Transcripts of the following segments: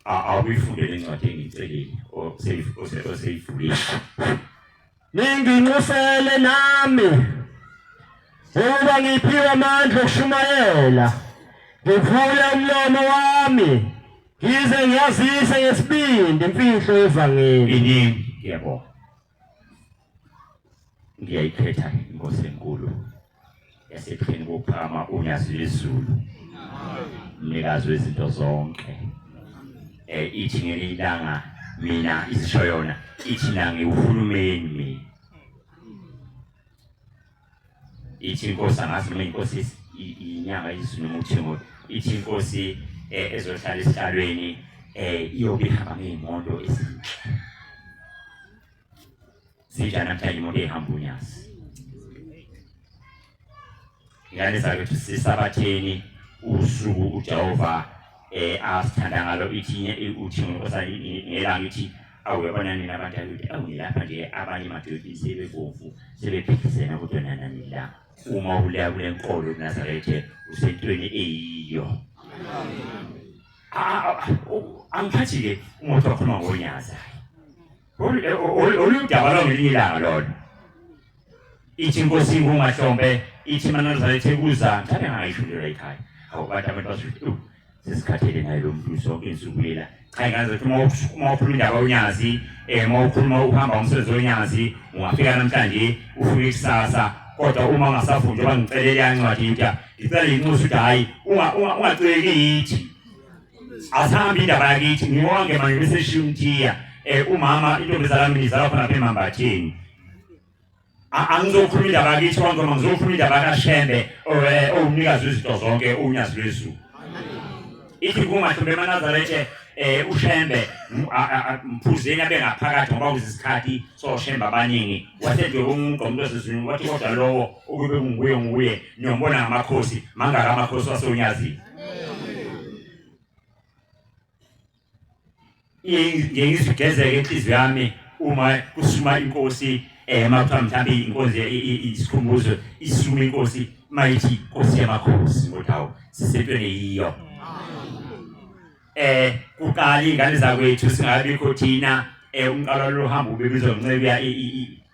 awuyifunde lencwadi engiyicelile oseyivulile ninginxusele nami ukuba ngiphiwe amandla okushumayela ngivule umlomo wami ngize ngiyazise ngesibindi imfihlo yevangeli iningi yebo ngiyayikhetha inkosi enkulu yasepheni kokuphakama unyazi lwezulu mnikazi wezinto zonke eh ithi ngelinye ilanga mina isisho yona ithi nangiwuhulumeni mina ithi inkosi angazi noma inkosi inyanga izulu umuthingo ithi inkosi eh, ezohlala esihlalweni eh iyobe ihamba ngeyimoto ezinhle sinjani namhlanje imoto ehamba unyazi ngane zakwethu sisabatheni usuku ujehova eh asithanda ngalo ithi uthi ngelanga ithi awu yabona nina abantu akuthi awu ngilapha nje abanye madoda sebebomvu sebephikisena kodwa nana nila uma uleya kule nkolo unazarethe usentweni eyiyo angiphathi-ke umuntu wakhuluma ngonyazayo oludaba lwangelinye ilanga lona ithi inkosi ingumahlombe ithi manazala ithi kuza mthathe ngayishulelwa ekhaya awu abantu abantu basuthi u sesikhathele naye lo muntu zonke insuku lela cha ngaze uma uma ukhuluma indaba onyazi eh uma ukhuluma uhamba umsebenzi onyazi ungafika namhlanje ufike ikusasa kodwa uma ungasafundi oba ngicelele yancwadi into ngicela inxusa ukuthi hayi unga ungaceki yithi asihambe indaba yakithi ngiwonke manje bese shimthiya eh umama intombazana mina izalwa khona phe mambathini angizokhuluma indaba yakithi abantu noma ngizokhuluma indaba yakashembe eh, owumnikazi wezinto zonke unyazi lwezulu ithi kuma hlombe emanazarethe um ushembe mphuzeni abe ngaphakathi ngoba kuzisikhathi soshembe abaningi wasenjwe umuntu omuntu osezulwini wathi kodwa lowo ukube kunguye nguye niyombona ngamakhosi mangaka amakhosi wasonyazini ngiye ngizigezeke inhliziyo yami uma kusuma inkosi ema kuthiwa mhlawumbe inkosi isikhumbuzo isuma inkosi mayithi inkosi yamakhosi ngodawo sisentweni yiyo eh kuqala ingane zakwethu singabikho thina eh umqalo lohamba ubebizwa ncebiya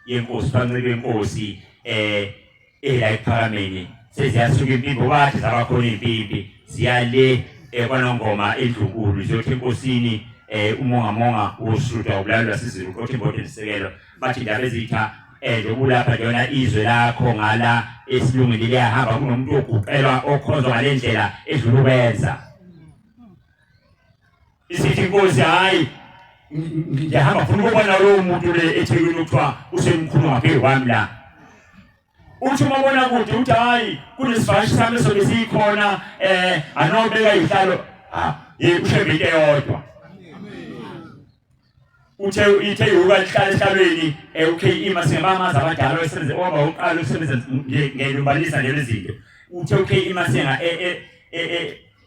yenkosi fancebiya yenkosi eh ela ephakameni seziyasuka impimpi obathi zabakhona iy'mpimpi ziya le eh, kwanongoma endlunkulu ziyothi enkosini um umongamonga wosuda ubulalo lwasizulu uqothe imbode lisekelwa bathi ndaba ezitha um lokulapha lona izwe lakho ngala esilungile liyahamba kunomuntu oguqelwa okhonzwa ngale ndlela edlula ukwenza isithi inkosi hayi ngiyahamba funa ukubona lowo muntu le ethekwini kuthiwa usemkhulu wakhe wami la uthi uma bona kude uthi hayi kunesivashi sami sobe siyikhona um eh, anobeka ihlalo ah, ye ushembe into eyodwa uthe ithe yokuba lihlala esihlalweni eh, uKE masingamamazi abadala osebenze oba uqala usebenza ngelumbanisa lezi zinto uthe uKE masinga eh, eh,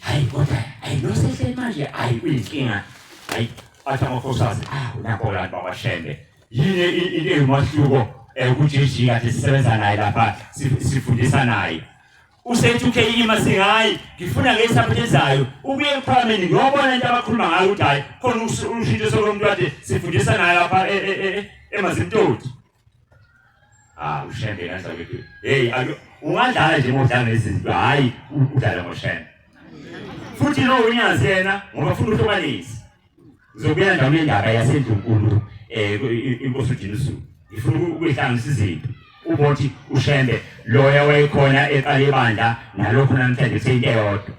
hayi kodwa hayi nosehleli manje hayi uyinkinga hayi athi amakhosikazi ah unakho la baba shembe yini into engumahluko eh, ukuthi ijika sisebenza naye lapha sifundisa naye usethi ukheyima singayi ngifuna ngesaphethe ezayo ubuye ephalameni ngiyobona into abakhuluma ngayo ukuthi hayi khona ushintsho sokumuntu kade sifundisa naye lapha e, e, e, emazimtoti Ah, ushembe kanjalo ukuthi hey ayo ungadlala nje modlala nezinto hayi udlala ngoshembe. Futhi lo unyazi yena ngoba funa uhlukanise. Uzobuya ndawo indaba yasendlunkulu eh inkosi uJesu. Ifuna ukuyihlanganisa izinto. Ubothi ushembe loya wayekhona eqala ibandla nalokho namhlanje seyinto eyodwa.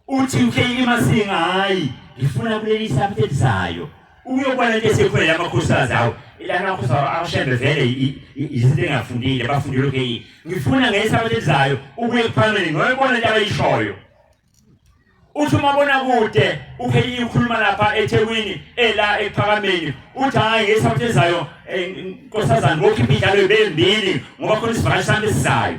Uthi uhlelile masinga hayi ngifuna kuleli sabuthe elizayo. Ukuyobona into esekhona la makhosikazi awo. Ila makhosi awo awashembe vele i- i- i- izinto engafundile bafundile ukheyini. Ngifuna ngeke sabuthe elizayo ubuye kuphambili ngoyibona into abayishoyo. Uthi uma bona kude ukheyini ukhuluma lapha eThekwini ela ekuphakameni uthi hayi ngeke sabuthe elizayo eh, nkosazana ngokhipha idlalo bembili ngoba khona isivakashi sami esizayo.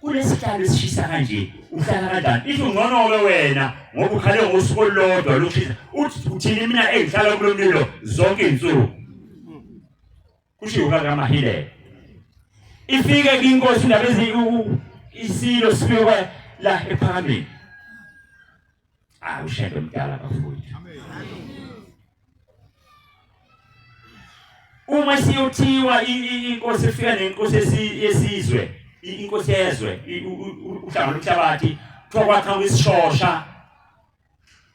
Kulesihlalo esishisa kanje uhlala kanjani? Ithi ungconoke wena ngoba ukhale ngosuku olulodwa lokushisa. Uthi uthini mina engihlala kulo mlilo zonke izinsuku. Kushiwo kaMahile. Ifike inkosi indaba eziku isilo sifike la ephakameni. Ah ushembe mdala bafowethu. Uma siyothiwa inkosi efika nenkosi esizwe inkosi yezwe uhlanga lomhlabathi kuthiwa kwakha kwisishosha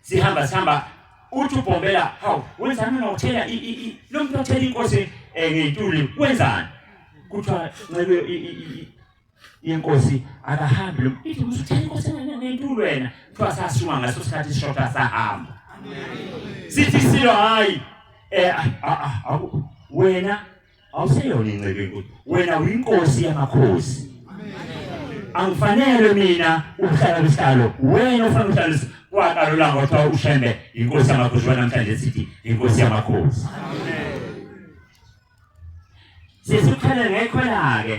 sihamba sihamba uthi ubhombela hawu wenzani mina uthela lo muntu othela inkosi eh, ngey'tuli wenzani kuthiwa nxebe inkosi akahambi lo ithi usuthela inkosi engenentulu wena kuthiwa sasuma ngaso sikhathi isishoda sahamba sithi silo hayi eh wena awuseyona incebe enkulu wena uyinkosi yamakhosi angifanele mina ukuhlala kwisihlalo wena ufana ukuhlala kwaqala ulanga kwathiwa ushembe inkosi yamakhosi wanamhlanje sithi inkosi yamakhosi sisithele ngekhwela-ke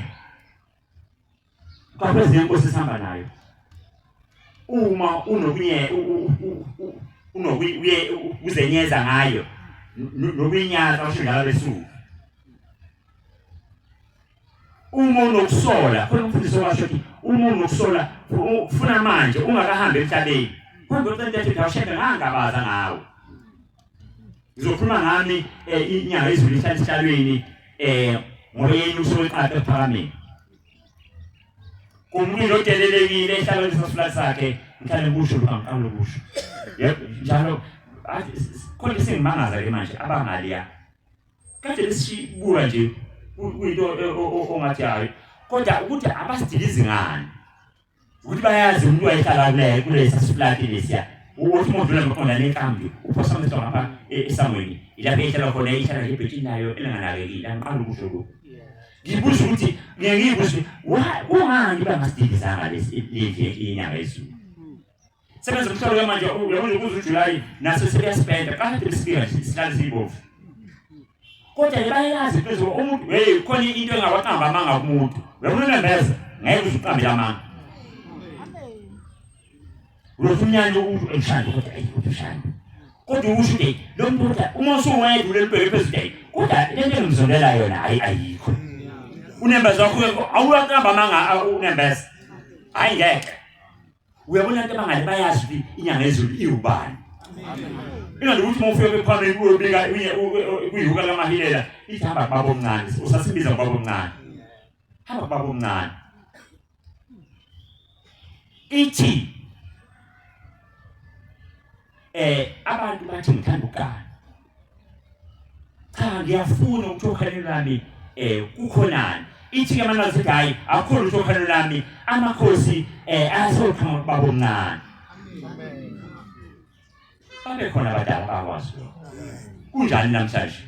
qapha ezinye inkosi esihamba nayo uma unokunye unokuye uzenyeza ngayo nokunyaza usho njalo lesuku uma unokusola khona umfundisi owasho ukuthi uma unokusola funa manje ungakahambi emhlabeni kodwa ucinto ethi ngawushebe ngangabaza ngawo ngizokhuluma ngami eh, inyanga izulu ihlala esihlalweni eh ngoba yena usoqapha ephakameni umuntu odelelekile ehlala lesasifula sakhe ngihlale kusho lokho angiqala ukusho yebo njalo khona isingimangaza ke manje abangali ya kade lesibuka nje kuyinto ongathi hayi kodwa ukuthi abasidilizi ngani ukuthi bayazi umuntu wayehlala kule kulesa siflati lesiya ukuthi umuntu udlula ngoqonda nenkambi uphosa umthetho ngapha e- esangweni ilapho ehlala khona ihlala ngebhethini layo elinganakekile angiqali ukusho lokhu ngibuza ukuthi ngiye ngibuze ukuthi wa- kungani bangasidilizanga lesi lendlu yenyanga yezulu Sebenza umhlolo ke manje uyabona ukuze uJuly naso sekuyasipenda kade besifika nje sihlale sibovu. Kodwa ke bayazi ukuthi umuntu hey khona into engawaqamba amanga kumuntu. Uyabona nembeza ngeke uziqambe amanga. Uyothi umnyanya umuntu emshando kodwa ayi ushando. Kodwa usho ukuthi lo muntu uma usuwedwa lelibheke phezulu ayi kodwa lento engimzondela yona ayi ayikho. Unembeza wakho awuyaqamba amanga unembeza. Hayi ngeke. uyabona abantu abangale bayazi ukuthi inyanga yezulu iwubani ingani ukuthi uma ufike kwephambili kuyobika kuyuka lamahilela ithi hamba kubaba omncane usasibiza kubaba omncane hamba kubaba omncane ithi eh abantu bathi ngithanda ukugana cha ngiyafuna ukuthi okhalweni lwami eh kukhonani ithi ke manje sithi hayi akho lutho khona lami amakhosi eh asokhama babo mncane babe khona abadala bakwazi kunjani namhlanje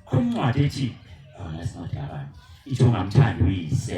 khona incwadi ethi khona singathi abantu ithi ungamthandi uyise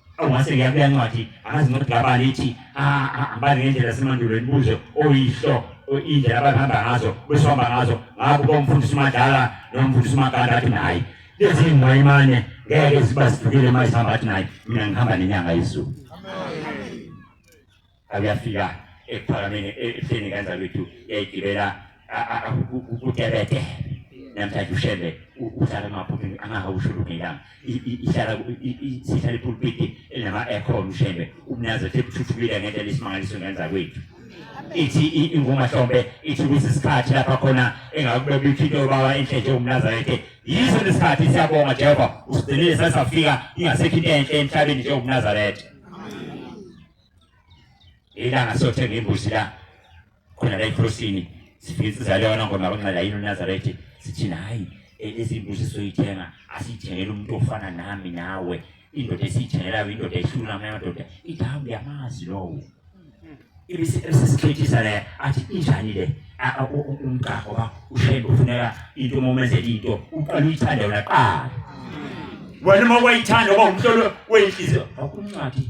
Ongase ngiyakuya ncwadi angazi nokuthi labani ithi ahambani ngendlela yasemandulo imibuzo oyihlo indlela abahamba ngazo besihamba ngazo ngakho bomfundisi umadlala nomfundisi umakanda athi nayi lezi ngwayimane ngeke ziba zifikile uma zihamba athi nayi mina ngihamba nenyanga yezulu akuyafika ekuphakameni ehleni ngenza kwethu yayigibela kutebete namhlanje ushembe uhlala emaphuthini angakawushulukilanga ihlala sihlala ipulpiti elinama-aircon ushembe umnazi ethe kuthuthukile ngendlela isimangaliso ngenza kwethu ithi ingumahlombe ithi ukuthi isikhathi lapha khona engakubeka iphito yobawa enhle nje umnazarete yiso lesikhathi siyabonga jehova usigcinile sasafika ingasekho into enhle emhlabeni nje umnazarete ilanga siyothenga imbuzi la khona la ekrosini sifike insizalo yona ngoma kunxela yini unazarethe sithi hayi e, lezi mbuzi esizoyithenga asiyithengele umuntu ofana nami nawe indoda esiyithengelayo indoda ehlula amanye amadoda ithi hawu uyamazi lowo ibisesithethisa le athi injani le umgaqo ngoba ushembe ufuneka into uma umenzela into uqala uyithande wona qala wena uma wayithanda uba umhlolo weyinhliziyo akuncwadi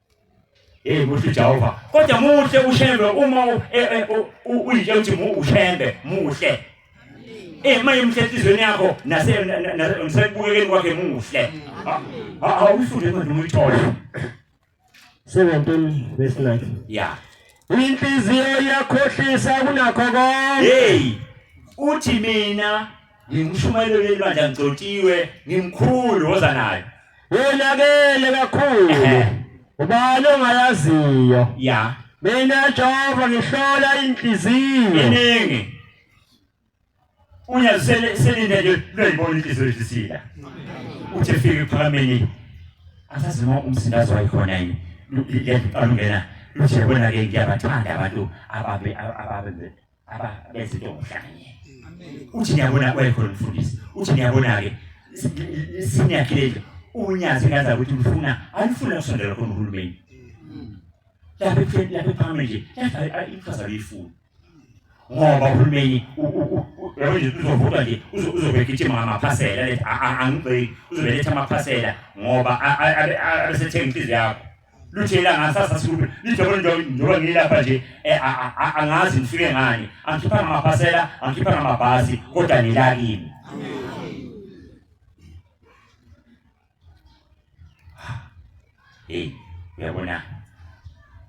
Hey muhle Jehova. Kodwa muhle ushembe uma eh, eh, uyitshela ukuthi mu ushembe muhle. Eh maye muhle enhlizweni yakho nase nasebukekeni kwakhe muhle. Awufunde incwadi uma uyithola. 17 verse 9. Yeah. Inhliziyo iyakhohlisa kunakho konke. Hey. Uthi mina ngingumshumayeli kuleli bandla ngigcotshiwe ngimkhulu woza nayo wonakele kakhulu ubani ongayaziyo ya mina Jehova ngihlola inhliziyo iningi uya selinde nje loyibona inhliziyo isisila uthi fike ephakameni asazi noma umsindazo wayikhona yini lento alungena luthi yabona ke ngiyabathanda abantu ababe ababe aba benza into ngokuhlanganyela uthi niyabona kwayikhona umfundisi uthi niyabona-ke siniyakhile nje unyazi kaza ukuthi ngifuna alifuna kusondela khona uhulumeni lapho ekutheni lapho ephambi nje iqhaza liyifuna ngoba uhulumeni yabonje uzovutwa nje uzobegijima ngamaphasela lethi angibheki uzobeletha amaphasela ngoba abesethenga inhliziyo yakho luthela ngasasa sikhulu lijobo njengoba njengoba ngilapha nje eh, a- a- a- angazi ngifike ngani angikhipha ngamaphasela angikhipha ngamabhasi kodwa ngila kimi hey uyabona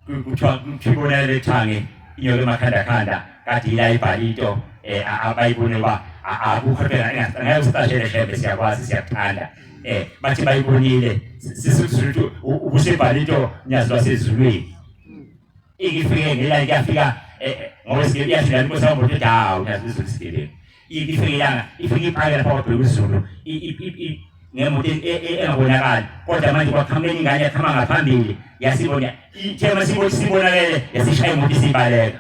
Ku- kuthiwa kuthiwa ibona lethange inyoka emakhanda khanda kade ila ibhali into eh, a- abayibone uba a- akukho phela engase- angeke usicashele shembe siyakwazi siyakuthanda eh bathi bayibonile sisifuthu ubusebhala into nyazi lwasezulwini ikifike ngela ikafika eh, eh, ngoba sike yashila inkosi yabo nje dawo nyazi lizulisikeleni ikifike yana ifike iphakela lapha kwabheka izulu ngemoto e, e, e, engabonakali kodwa manje kwaqhamuka enye ingane yaqhama ngaphambili yasibona ithe masibona sibonakele yasishaya imoto isibaleka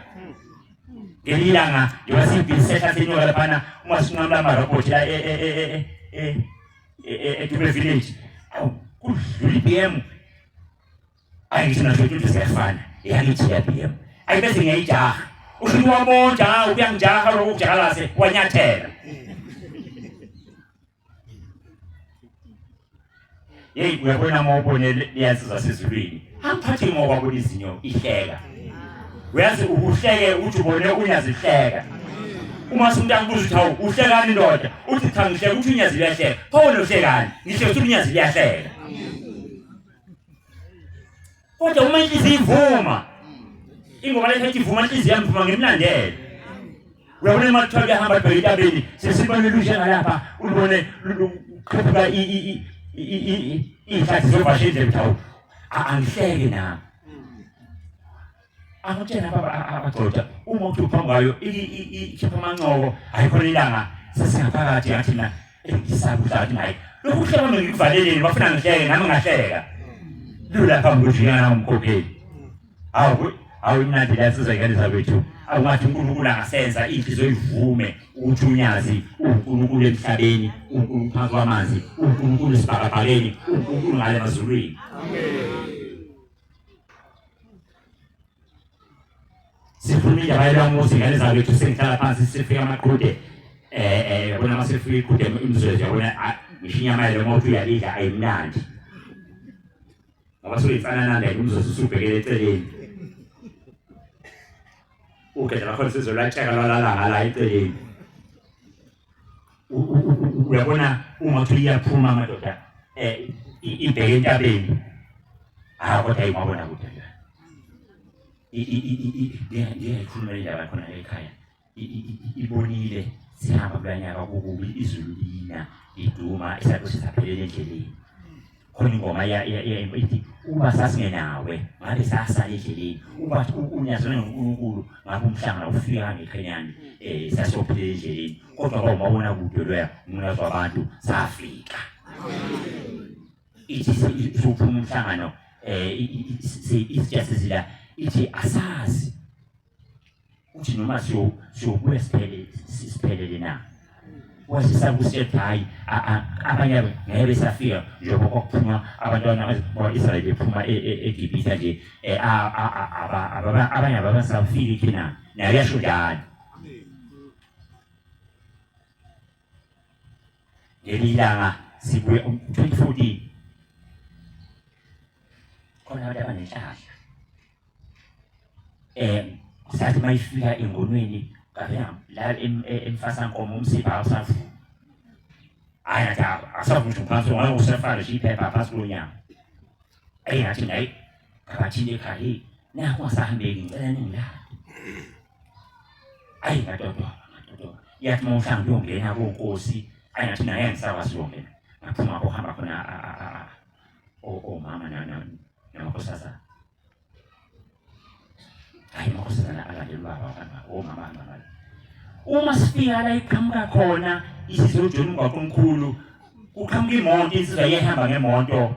ngenye ilanga njengoba siyibhizi sehla senyuka laphana uma sinqamula amarobhothi la edube village awu kudlula i-b m ayi ngithi nazo into siyafana iyangithi ya-b m ayi bese ngiyayijaha usho ukuthi wamonja uyangijaha lokho kujakalase wanyathela Yeyi uyabona uma ubone liyazizwa sezulwini angiphathi ngoba kulizinyo ihleka uyazi uhleke uthi ubone unyazihleka uma umuntu akubuza ukuthi hawu uhlekani ndoda uthi cha ngihleka uthi unyazi liyahleka pho wena uhlekani ngisho ukuthi unyazi liyahleka kodwa uma inhliziyo ivuma ingoma lethi ethi vuma inhliziyo yami vuma ngimlandele uyabona uma kuthiwa kuyahamba bheka entabeni sesibone lusha ngalapha ulubone luqhephuka iy'hlathi zovasha indlela ukuthi awu angihleke nami angitshena abagcoja uma uthi uphambi kwayo ikhipha amancoko ayikhona ilanga sesingaphakathi ngathi na Ngisaba ukuthi manje lokhu kuhlaba ngikuvaleleni bafuna ngihleke nami ngahleka. Lula phambi ukuthi ngiyana umkhokheli. Awu awu imnandi la sizwe ngane zakwethu. Awungathi uNkulunkulu angasenza inhliziyo ivume ukuthi unyazi uNkulunkulu emhlabeni, uNkulunkulu phansi kwamanzi, uNkulunkulu esibhakabhakeni, uNkulunkulu ngale mazulwini. Amen. sikhuluma indaba yelamuzi ngane zakwethu sengihlala phansi sifika amaqhude eh eh yabona uma sifika iqhude imizwezo yabona ah, ngisho inyama yalo uma uthi uyalidla ayimnandi ngoba suke insanananda imizwezo usubhekele eceleni ugedla lakhona sizolwatsheka lwalalanga la eceleni uyabona uma uthi iyaphuma amadoda eh ibheke entabeni ah kodwa imabona kude nje iyayikhulumela indaba khona ekhaya ibonile sihamba kulanyaka kukubi izulu lina liduma isakho sisaphelele endleleni khona ingoma ithi uba sasingenawe ngabe sasala endleleni uba unyazana nonkulunkulu ngabe umhlangana ufika ngeqhenyane um eh, sasophila endleleni kodwa ba umabona kude loya umnazi wabantu safika ithi sophuma umhlangano um eh, isija sezila ithi asazi uthi noma siyobuya siphelele na kwazisa kusithi hhayi abanye abo ngeke besafika njengoba kwakuphuma abantwana bakwa-israyeli bephuma e, e, egibhitha nje e, abanye ababasafiki khinani naye yasho njalo ngelinye ilanga sibuye 2014 khona abantu abanenhlahla um sathi uma ifika engonweni kavela la emfasankomo umsipha awusavumi hhayi ngathi asavumi nje phansi ngoba usefale nje iphepha phansi kulo nyama eyi ngathi ngayi ngabathini ekhaya heyi nakho ngasahambeki ngicela ningilaphe ayi ngadodoba ngadodoba yathi uma uhlanga uyongena konkosi ayi ngathi naye angisakwazi uyongena ngaphuma kuhamba khona omama namakhosazana ayi amakhosazana alandela ubaba wabanga omama angabali uma sifika la iqhamuka khona isizojona umgwaqo omkhulu kuqhamuka imoto insizwa iyahamba ngemoto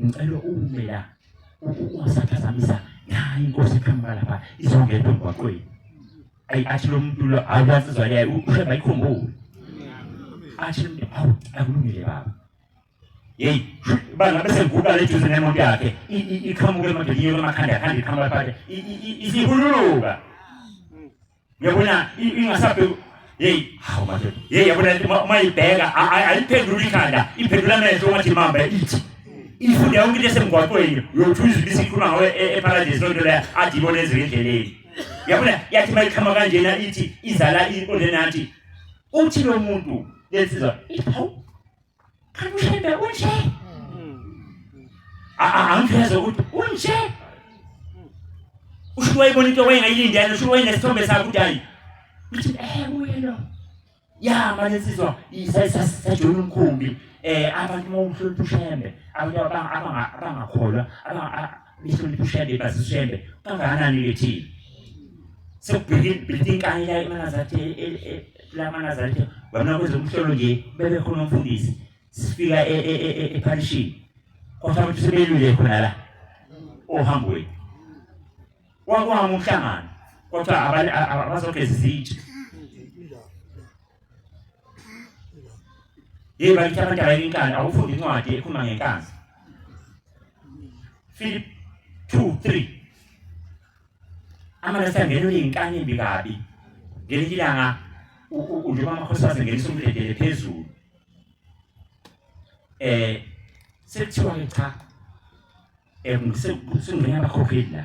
ngicela ume la ungasaphazamisa nayi inkosi iqhamuka lapha izongena emgwaqweni ayi athi lo muntu lo awuyansizwa leyo ushemba ayikhumbule athi awu akulungile baba yeyi bangabe sengivuka le juzi nemoto yakhe iqhamuke emandeliyo emakhanda yakhanda iqhamuka phathe isihululuka Uyabona ingasabe hey hawu manje hey yabona uma ibheka ayiphendula ikhanda iphendula amehlo uma thimamba ithi ifunde yonke into esemgwaqweni uyothuza ibisi ikhuluma ngawe e-, eparadise loo nto leyo athi ibona ezike endleleni yabona yathi uma iqhama kanjena ithi izala inkonde nathi uthi lo muntu lensizwa ithi hawu kanti ushembe unje angiveze ukuthi unje usho wayibona into wayengayilindele usho wayenesithombe sakho ukuthi hayi ngithi eh uye lo ya manje nsizwa isasajula umkhumbi eh abantu uma umhlonipha ushembe abantu abangakholwa abanga Lihlonipha uShembe bazi uShembe kangakanani lethini. Sekubhekile bhekile inkani la emanazathe e, e, e, la manazathe wabona kwezomhlolo nje bebe khona umfundisi sifika epharishini kwathiwa ukuthi sebelwile khona la ohambweni wakwama umhlangano kwathiwa abazogeza izitsha Yebo bakithi abantu abayinkani awufundi incwadi ekhuluma ngenkazi. Philip 2 3 Amalesi angenwe inkani embi kabi. Ngelinye ilanga uJehova amakhosi wasengenisa umdedele phezulu. Eh sekuthiwa cha eh sengena abakhokheli la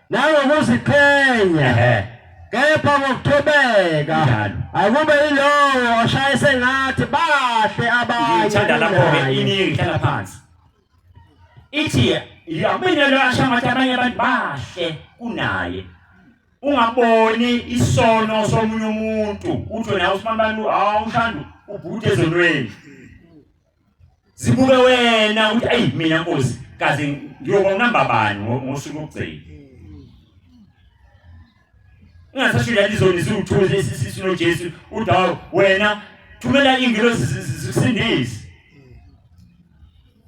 nangokuziqhenya kepha ngokuthobeka akube yilowo oshaye sengathi bahle abanye ngithanda lapho-ke iningi ngihlala phansi ithi yamina lo asha ngathi abanye abantu bahle kunaye ungaboni isono somunye umuntu uthi wena usimambani awushandu ubhuti ezonweni zibuke wena ukuthi ayi mina nkosi kaze ngiyoba unamba bani ngosuku lokugcina ungasasho lento izoni ziwuthuze isisisu noJesu udawo wena thumela ingilosi zikusindise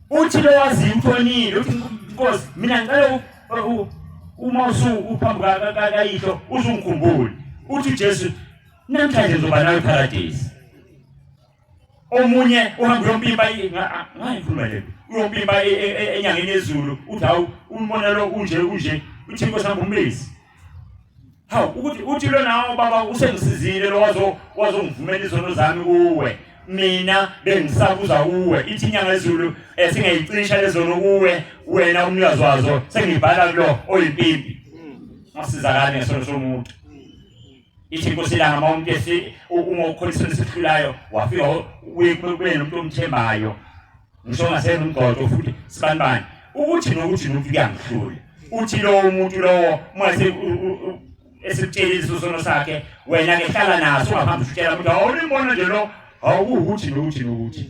uthi lo wazi uthonile uthi inkosi mina ngicela uma usu uphambi kayihlo uzungikhumbule uthi uJesu namhlanje ngizoba nawe eparadise omunye uhamba uyompimpa ngayikhuluma le uyompimpa e, e, e, enyangeni yezulu uthi hawu umbona lo unje unje uthi inkosi hamba umbezi hawu ukuthi uthi lona baba usengisizile lo wazo wazongivumela izono zami kuwe mina bengisabuza kuwe ithi inyanga yezulu esingayicisha eh, lezono kuwe wena umnikazi wazo sengibhala kulo oyimpimpi masizakane ngesono somuntu ithi inkosi ilanga uma umuntu esi uma ukholisa esihlulayo wafika uye kube nomuntu omthembayo ngisho ngasena umgqodo futhi sibani bani ukuthi nokuthi nokuthi kuyangihlula uthi lowo muntu lowo uma esikutshela isisono sakhe wena ke hlala naso ungaphambi usitshela ukuthi awulimbona nje lo awukuthi nokuthi nokuthi